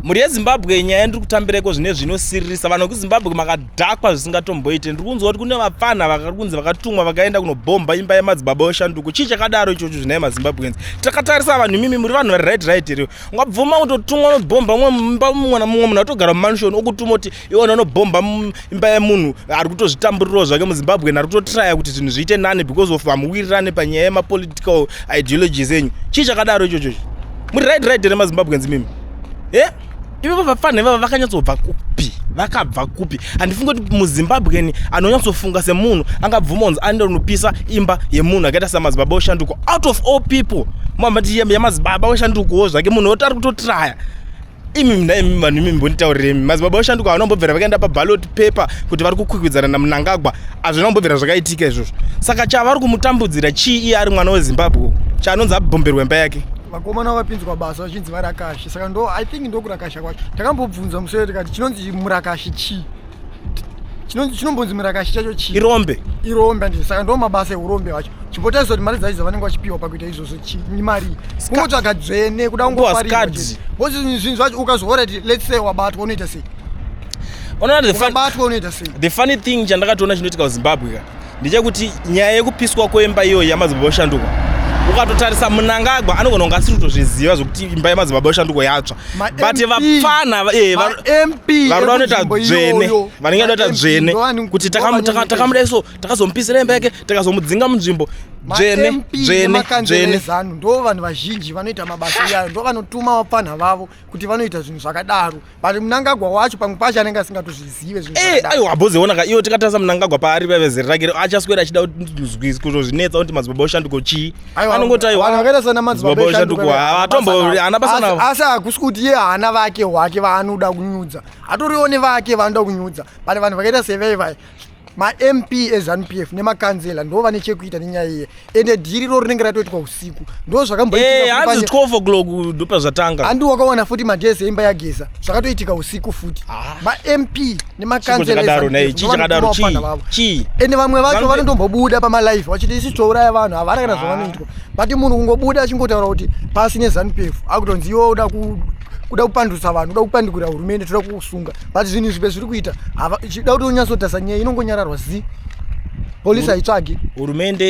mhuri yezimbabwe nyaya yandiri kutambireko zvine zvinosiririsa vanhu vekuzimbabwe makadhakwa zvisingatomboite ndiri kunzwa kuti kune vapfanha vakari kunzi vakatumwa vakaenda kunobhomba imba yemadzibaba yoshanduko chii chakadaro ichocho zvinai mazimbabweans takatarisa vanhu imimi muri vanhu vari right right here ungabvuma kutotumwa unobhomba mumba mumwana mumwe munhu atogara mumanshoni okutuma kuti iwona unobhomba imba yemunhu ari kutozvitamburirawo zvake muzimbabwean ari kutotraya kuti zvinhu zviite nani because of hamuwirirane panyaya yemapolitical ideologies enyu chii chakadaro ichochocho muri right right here mazimbabweans mimi e eh? ivavo vafana ivavo vakanyatsobva kupi vakabva kupi handifunge kuti muzimbabwean anonyatsofunga semunhu angabvuma unzi aenda unopisa imba yemunhu akaita samadzibaba oshanduko out of all people mamati yamadzibaba oshandukowo zvake munhu oti ari kutotraya imi mna imi vanhu imi mbonditauriremi madzibaba oshanduka havana kumbobvira vakaenda pabalot paper kuti vari kukwikwidzana namunangagwa hazvina kumbobvira zvakaitika izvozvo saka chavari kumutambudzira chii iye ari mwana wezimbabwe chaanonzi abhomberwa imba yake vakomana vapinzwa basa vachinzi varakashi saka ndo i think ndokurakasha kwacho takambobvunza musoro tikati chinonzi murakashi chii chinombonzi murakashi chacho chii irombe irombe andii saka ndo mabasa eurombe hwacho chimbotarisa kuti mari dzaidzo vanenge vachipiwa pakuita izvozvo chii mari kungotsvaga dzvene kuda kungofaribhozi zvinhu zvacho ukazoora ti lets say wabatwa unoita sei unoona the funny thing chandakatoona chinoitika kuzimbabwe ka ndechekuti nyaya yekupiswa kwemba iyoyo yamadzibaba yoshanduka ukatotarisa munangagwa anogona kunge asiri kutozviziva zvekuti imba yamadzibaba yoshanduka yatsva but vapfana eh, varoda unoita dzvene vanenge da unoita dzvene kuti takamuda iso takazomupisira imba yake takazomudzinga munzvimbo dzvene dzvene dzvene ndo vanhu vazhinji vanoita mabasa iyayo ndo vanotuma vapfanha vavo kuti vanoita zvinhu zvakadaro but munangagwa wacho pamwe pacho anenge asingatozvizive zvinhuaiwa abozeona ka iwo tikatarisa munangagwa paari vavezeri rake achaswera achida kutozvinetsa kuti madzibaba oshanduko chii anongoti aiwaakaita sana madzibaba oshanduko havatomboana basana asi hakusi kuti iye haana vake hwake vaanoda kunyudza atoriwo nevake vaanoda kunyudza but vanhu vakaita sevevai mamp ezanupf nemakanzela ndo vane chekuita nenyaya iye ende dhiri ro rinenge ratoitwa usiku ndo zvakambohanzi 12 o'clock ndopa zvatanga handi wakawana futi magezi eimba yageza zvakatoitika usiku futi ah. mamp nemakanzelachichakadaro chii ende vamwe vacho vanotombobuda pamalife vachiti isi touraya vanhu havana kana ah. zvavanoitwa but munhu kungobuda achingotaura kuti pasi nezanupf akutonzi iwo uda kuda kupandutsa vanhu uda kupandukira hurumende toda kukusunga but zvinhu izvi bezviri kuita chida kuti unyatsotasa nyaya inongonyararwa zi polisi haitsvagi hurumende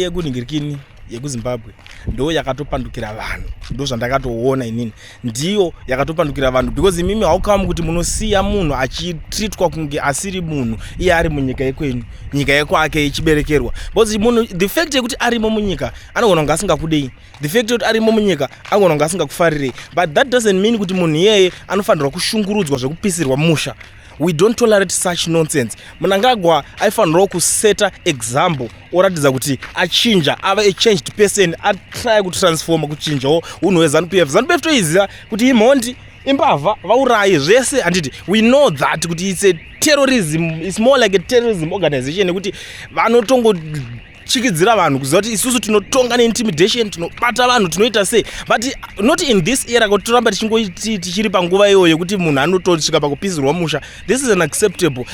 yekunhingirikini yekuzimbabwe ndo yakatopandukira vanhu ndo zvandakatoona inini ndiyo yakatopandukira vanhu because imimi haukamu kuti munosiya munhu achitritwa kunge asiri munhu iye ari munyika yekwenyu nyika yekwake ichiberekerwa because munhu the fact yekuti arimo munyika anogona kunge asingakudei the fact yekuti arimo munyika angona kunge asingakufarirei but that doesn't mean kuti munhu iyeye anofanirwa kushungurudzwa zvekupisirwa musha we don't tolerate such nonsense munangagwa aifanirawo kuseta example oratidza kuti achinja ava a changed person atrya kutransforma kuchinjawo unhu hwezanu pf zanu pf toiziva kuti imhondi imbavha vaurayi zvese handiti we know that kuti its a terrorism its more like a terrorism organization yekuti vanotongo tyikidzira vanhu kuziva kuti isusu tinotonga neintimidation tinobata vanhu tinoita sei but not in this era kuti toramba tichingoti tichiri panguva iyoyo yekuti munhu anotosvika pakupisirwa musha this is unacceptable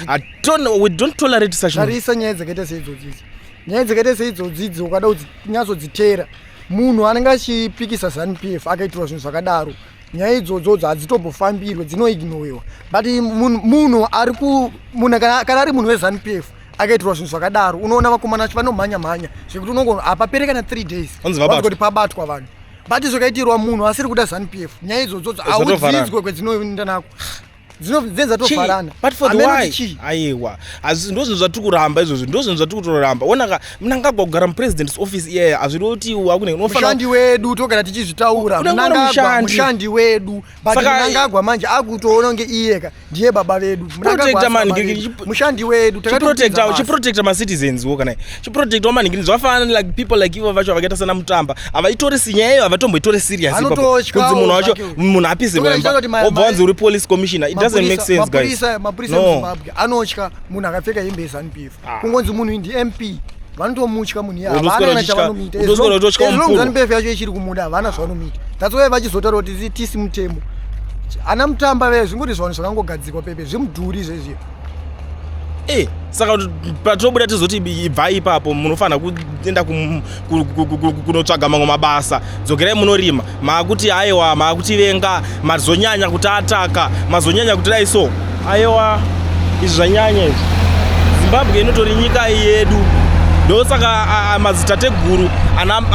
we don't tolerate such tarisa nyaya dzakaita seidzodzidzi nyaya dzakaita seidzodzidzi ukada kuti nyatsodziteera munhu anenge achipikisa zanp f akaitirwa zvinhu zvakadaro nyaya idzodzodzo hadzitombofambirwe dzinoignoiwa but munhu ari munhu kana ari munhu wezanp f akaitirwa zvinhu zvakadaro unoona vakomana vacho vanomhanya mhanya zvekuti unongo hapapere kana three days kuti pabatwa vanhu but zvakaitirwa munhu asiri kuda zanu p f nyaya idzodzodzo audzidzwe kwedzinoenda nako dzinozatofarana aiwa ndozvinhu zvatiri kuramba izvozvo ndozvinhu zvatiri kutoramba onaka mnangagwa kugara mupresidents office iyaya hazviri kuti wakuneunofanandi wedu togara tichizvitaura mnangagwa mushandi wedu But Saka- Mnangagwa manje akutoona kunge iyeka ndiye baba vedu Mnangagwa Protector asi man, baba ki- vedu. ki- mushandi wedu takatopinza chiprotector basa. chiprotector macitizens wo kana chiprotector maningi zvafana like people like ivo vacho vakaita sana mutamba havaitori sinyaya iyo havatomboitori serious ipapo. Vanototyawo kunzi munhu wacho zvake. munhu apise Toda kuita kuti ma- wobva ma- wanzi uri police commissioner it doesn't make Mapurisa- sense guys mapurisa mapurisa No. emuzimbabwe anotya munhu akapfeka hembe yezanupf ah. kungonzi munhu indi mp vanotomutya munhu iyaavana chavanomuita ezilongzanbefu yacho ichiri kumuda havana zvavanomuita that's why vachizotaura kuti tisi mutemo ana mutamba vee zvingoti zvavanhu zvakangogadzikwa pepe zvimudhuri zvezviya e eh, saka patinobuda tizoti ibvai ipapo munofanira kuenda kunotsvaga mamwe mabasa dzokerai munorima maakuti aiwa maakutivenga mazonyanya kuti ataka mazonyanya kuti dai so aiwa izvi zvanyanya izvi zimbabwe inotori nyika yedu ndosaka madzitateguru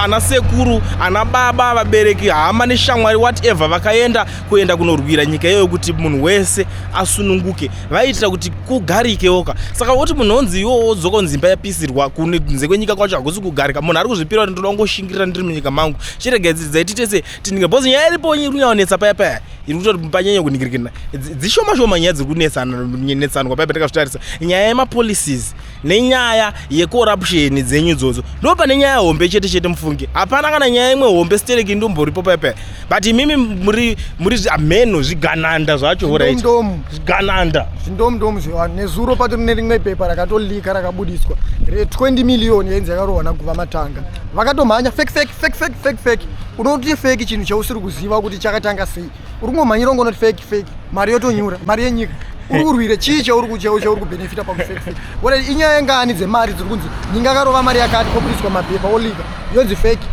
ana sekuru ana baba vabereki hama neshamwari whatever vakaenda kuenda kunorwira nyika iyoyo kuti munhu wese asununguke vaiitira kuti kugarikewoka saka woti munhu onzi iwo wodzoka onzi imba yapisirwa kunze kwenyika kwacho hakusi kugarika munhu ari kuzvipira kuti ndoda kungoshingirira ndiri munyika mangu chirega dzidzai titese tinike bcause nyaya iripo iri kunyaonetsa paya paya iri kutoti panyanya kuningirikina dzishoma shoma nyaya dziri kunetsanwa paya patakazotarisa nyaya yemapolicies nenyaya yekorapsheni dzenyu idzodzo ndo pane nyaya hombe chete chete mufunge hapana kana nyaya imwe hombe stereki ndomboripo pepe but imimi muri muri ameno zvigananda zvacho horaitndomu zvigananda zvindomundomu zvevanhu nezuro pato rine rimwe pepa rakatolika rakabudiswa re20 miliyoni yainzi yakarohwa naguva matanga vakatomhanya fek fek fek fek fek fek unoti feki chinhu chausiri kuziva kuti chakatanga sei uri kungomhanyira ungonoti fake fake mari yotonyura mari yenyika uri kurwira chii chauri kuchau chauri kubhenefita pakufake fake wona inyaya yengani dzemari dziri kunzi nyinga akarova mari yakati koburiswa mapepa oliga yonzi fake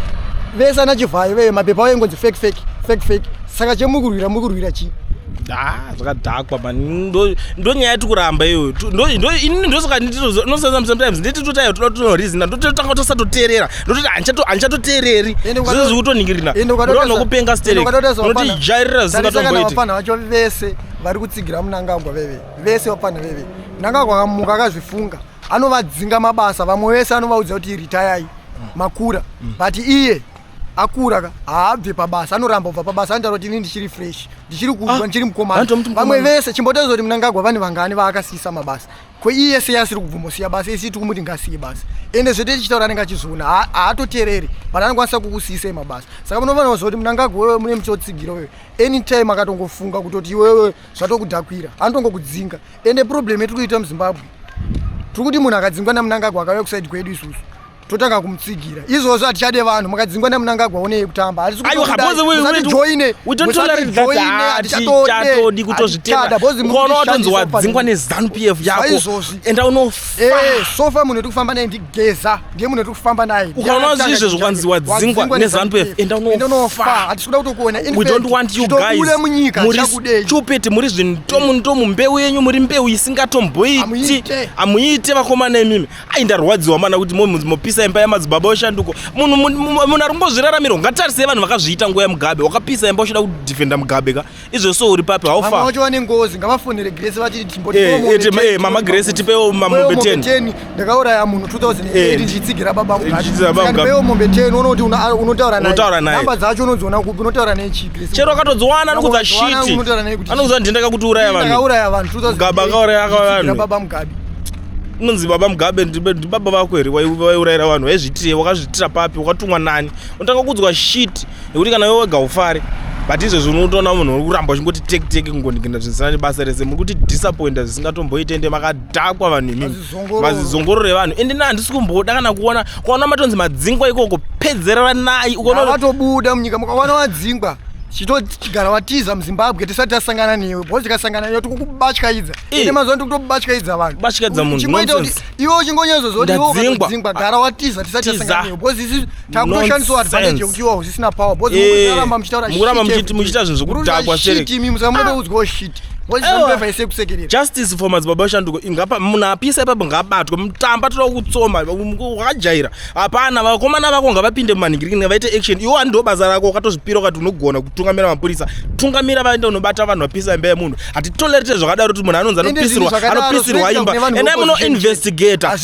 vese ana chivhayo veye mapepa ayo ingonzi fake fake fake fake saka chemukurwira mukurwira chii Ah, zvakadhakwa man ndonyaya yati kuramba iyoyo ndosaka ndinosanza sometimes ndititotayo toda tonorizina ndototanga tosatoteerera ndototi handichatoteereri zvese zvikutoningirina ndonokupenga sterunotijairirira zvisingatomboiti vapfanha vacho vese vari kutsigira munangagwa veve vese vapfanha veve munangagwa akamuka akazvifunga anovadzinga mabasa vamwe vese anovaudza kuti ritayai makura mm. but iye akura ka haabve pabasa anoramba kubva pabasa anotaura kuti ini ndichiri fresh ndichiri kudwa ah, ndichiri mukomana vamwe vese chimbotozoti munangagwa vane vangani vaakasiisa mabasa ko iye sei asiri kubvumosiya basa isi tikumuti ngasiye basa ende zvete tichitaura anenge achizviona haatotereri but anokwanisa kukusiyisa emabasa saka munofanirwa zvakuti munangagwa wewe mune muchotsigira wewe anytime akatongofunga kutoti iwewe zvatokudhakwira anotongokudzinga ende problem yetiri kuita muzimbabwe tiri kuti munhu akadzingwa namunangagwa akauya kusaidi kwedu isusu totanga kumutsigira izvozvo hatichade vanhu makadzingwa namunangagwa onei kutamba hatisikuatijoinechatodi kutozviteaotonzi wadzingwa nezanup f yakoenda unosofa eh, munhu eti kufamba naye ndigeza ndiye munhu eti kufamba naye ukaona zvi izvezvo kwanzi wadzingwa nezanup f enda unofa hatisikuda kutokuona ule munyika chakudei stupid muri zvinhu tomu ndomu mbeu yenyu muri mbeu isingatomboiti hamuite vakomana imimi ai ndarwadziwa mana kuti mopisa imba yamadzibaba weshanduko munhu munhu ari kumbozviraramirwa ngatarisei vanhu vakazviita nguva yemugabe wakapisa imba uchida kudefenda mugabe ka izvo so uri papi haufawacho vane ngozi ngavafonere grese vatitimama eh, eh, grese tipewo mamombe 10 ndakauraya munhu 2008 eh. ndichitsigira baba mugabepewo mombe 10 unoti unotaura naye namba dzacho unodziona kupi unotaura naye chipi chero akatodziwana anokudza shiti anokudza ndendaka kuti uraya vanhu ndakauraya vanhu 2008 akauraya vanhu baba mugabe unonzi baba mugabe ndibaba vako here waiurayira vanhu waizviitire wakazviitira papi wakatumwa nani unotanga kuudzwa shit nekuti kana iwe wega ufare but izvezvi unotoona munhu uri kuramba uchingoti tek tek kungondigenda zvinisana nebasa rese muri kuti disappointa zvisingatomboite ende makadhakwa vanhu imimi mazizongorore vanhu ende na handisi kumboda kana kuona kwaona matonzi madzingwa ikoko pedzerera nayi ukonovatobuda munyika mukawana wadzingwa chitogara watiza muzimbabwe tisati tasangana newe bho tikasangana newe tikukubatyaidza Eh. ine mazuva ndikutobatyaidza vanhu Batyaidza munhu, Uchingoita kuti nonsense. iwe uchingonyezoza kuti iwe Ndadzingwa. ukadzingwa gara watiza tisati Tiza. tasanganiwa bhozi isi takutoshandiswa advantage Nonsense. yekuti iwe usisina power bhozi Eh, mukuraramba muchitaura mukuramba shit muchiti- everything. muchiita zvinhu zvekudhakwa, Mukuramba Sherek. shit imi musamutoudzwawo shit bhozi Ewa. zambeva ise kusekerera justice for madzibaba shanduko ingapa munhu apisa ipapo ngaabatwe mutamba toda kutsoma wakajaira hapana vakomana vako ngavapinde mumanhingirikini ngavaite action iwo andiwo basa rako ukatozvipira ukati unogona kutungamira mapurisa tungamira vaende unobata vanhu vapisa imba yemunhu hatitolerete zvakadaro kuti munhu anonzi anopisirwa anopisirwa imba endai munoinvestigata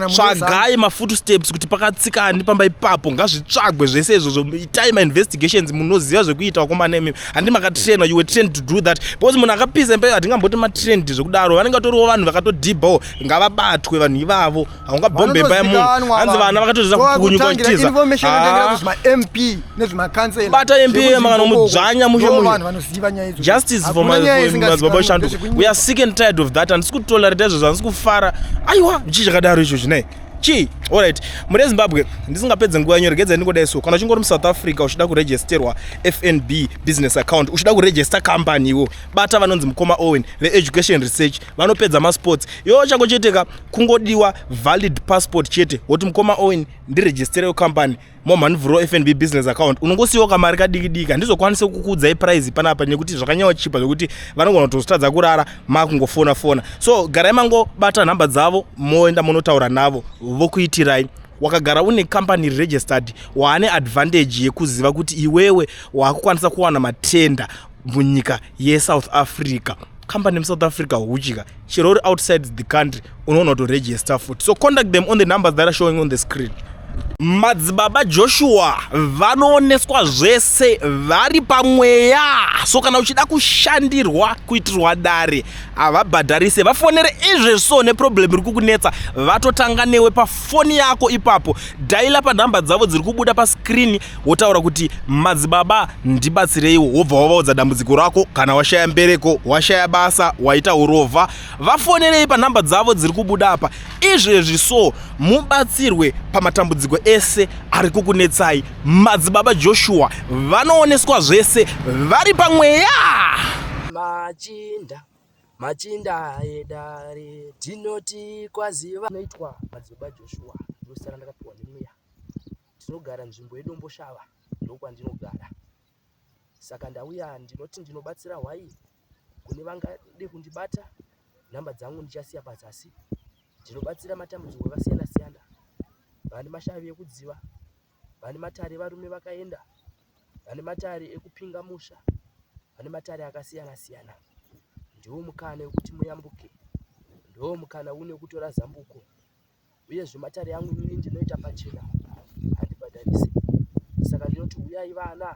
tsvagai mafoot steps kuti pakatsika ani pamba ipapo ngazvitsvagwe zvese izvozvo itai mainvestigations munoziva zvekuita vakomana imi handi makatrainwa you were trained to do that because munhu akapisa imba hatingamboti matrained zvekudaro vanenge vatoriwo vanhu vakatodhibhawo ngavabatwe vanhu ivavo haungabhombe imba yemunhu hanzi vana vakatoita kukunyukaitizabata mp makanomudzvanya mushe mujustice for madzibaba shando we are sick and tired of that handisi kutolerate izvozvo handisi kufara aiwa chii chakadaro icho chinei chii allright muri ezimbabwe ndisingapedze nguva yanyu regedza ndingodai so kana uchingori musouth africa uchida kuregisterwa fnb business account uchida kuregister company iwo bata vanonzi mukoma owen veeducation research vanopedza masports iwo chango chete ka kungodiwa valid passport chete woti mukoma owen ndiregistere wecompany momhanivhuro fnb business account unongosiyiwa kamari kadiki diki handizokwanise kukuudzai prize panapa nekuti zvakanyawa chipa zvekuti vanogona kutozotadza kurara makungofona fona so garai mangobata nhamba dzavo moenda monotaura navo vokuitirai wakagara une company registered waane advantage yekuziva kuti iwewe waakukwanisa kuwana matenda munyika yesouth africa company musouth africa huchika chero uri outside the country unoona kuti register futi so contact them on the numbers that are showing on the screen madzibaba joshua vanooneswa zvese vari pamweya so kana uchida kushandirwa kuitirwa dare havabhadharise vafonere izvezvi so neproblem iri kukunetsa vatotanga newe pafoni yako ipapo dhaila panhamba dzavo dziri kubuda paskrini wotaura kuti madzibaba ndibatsireiwo wobva wavaudza dambudziko rako kana washaya mbereko washaya basa waita urovha vafonerei panhamba dzavo dziri kubuda apa izvezvi so mubatsirwe pamatambudziko ese ari kukunetsai madzibaba joshua vanooneswa zvese vari pamweya machinda machinda edare tinoti kwaziva noitwa madzibaba joshua ndosara ndakapiwa nemweya Tinogara nzvimbo yeDomboshava ndokwandinogara saka ndauya ndinoti ndinobatsira hwai kune vangade kundibata nhamba dzangu ndichasiya pazasi ndinobatsira matambudziko akasiyana siyana vane mashavi ekudziva vane matare varume vakaenda vane matare ekupinga musha vane matare akasiyana siyana ndiwo mukana wekuti muyambuke ndiwo mukana une kutora zambuko uyezve matare yangu inini ndinoita pachena handibhadharisi saka ndinoti huyai vana